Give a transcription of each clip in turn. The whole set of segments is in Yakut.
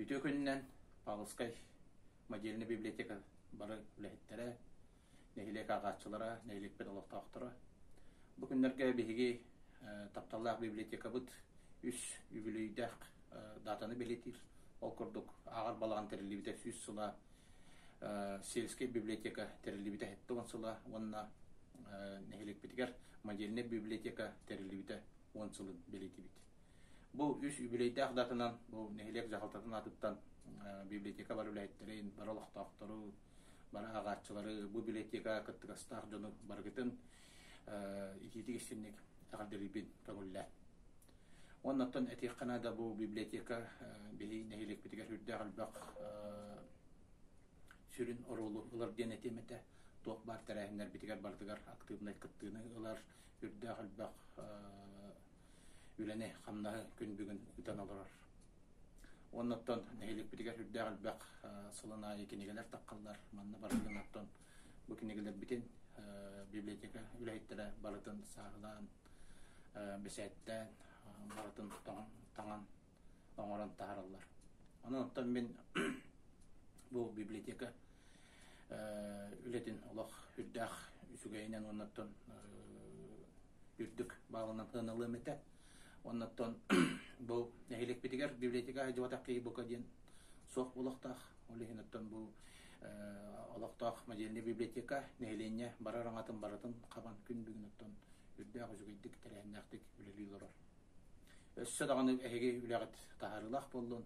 Үтүө күнүнэн Павловскай модельнай библиотека бары үлэһиттэрэ, нэһилиэк ааҕааччылара, нэһилиэкпит олохтоохторо. Бу күннэргэ биһиги тапталлаах библиотекабыт үс үбүлүйдээх даатаны бэлэтиир. Ол курдук ааҕар балаҕан тэриллибитэ сүүс сыла, сельскэй библиотека тэриллибитэ сэттэ уон сыла уонна нэһилиэкпитигэр модельнай библиотека тэриллибитэ уон сылын бэлитибит. Бу үс үбүлүөйдээх датынан бу нэһилиэк дьаһалтатын атыттан библиотека бар үлэһиттэрин, бар олохтоохтору, бар аагааччылары, бу библиотека кыттыгастаах дьону барыгытын итиитик истинник тахардырыйбин көҥүллэ. Оннаттан этиэххэ да бу библиотека биһи нэһилиэкпитигэр сүрдээх элбэх сүрүн оруолу ылар диэн этиэм этэ. Туох баар тэрээһиннэрбитигэр барытыгар актыыбынай кыттыыны ылар, үрдээх элбэх үлэни, хамнаһы күн бүгүн ыйтан олорор. Оннуттан нэһиликпитигэр үрдээх элбэх сылын аайы кинигэлэр таххаллар. Манна барылын оттон бу кинигэлэрбитин библиотека үлэһиттэрэ барытын сааһылаан, бэсээттээн, барытын таҥан оҥорон таһараллар. Онон оттон мин бу библиотека үлэтин олох үрдээх үчүгэйинэн оннотон үрдүк баалынан ылыам этэ. Оннотон бу нэһиликпитигэр библиотека хайдыбатах киһи бука диэн суох олохтаах. Ол иһин оттон бу олохтоох модельный библиотека нэһилиэнньэ барар аңатын барытын хабан күн бүгүн оттон үрдээх үчүгэйдик тэрээһиннээхтик үлэлии олорор. Өссө даҕаны эһиги үлэҕит таһаарыылаах буоллун,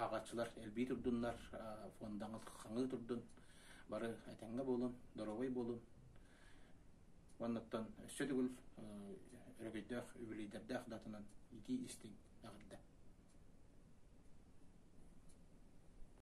ааҕааччылар элбии турдуннар, фондаҕыт хаҥыы турдун, бары этэҥҥэ буолун, доруобай буолун. Оннуттан өссө төгүл өрөгөйдөөх үбүлүйдэрдээх датанан итии истиҥ эҕэрдэ.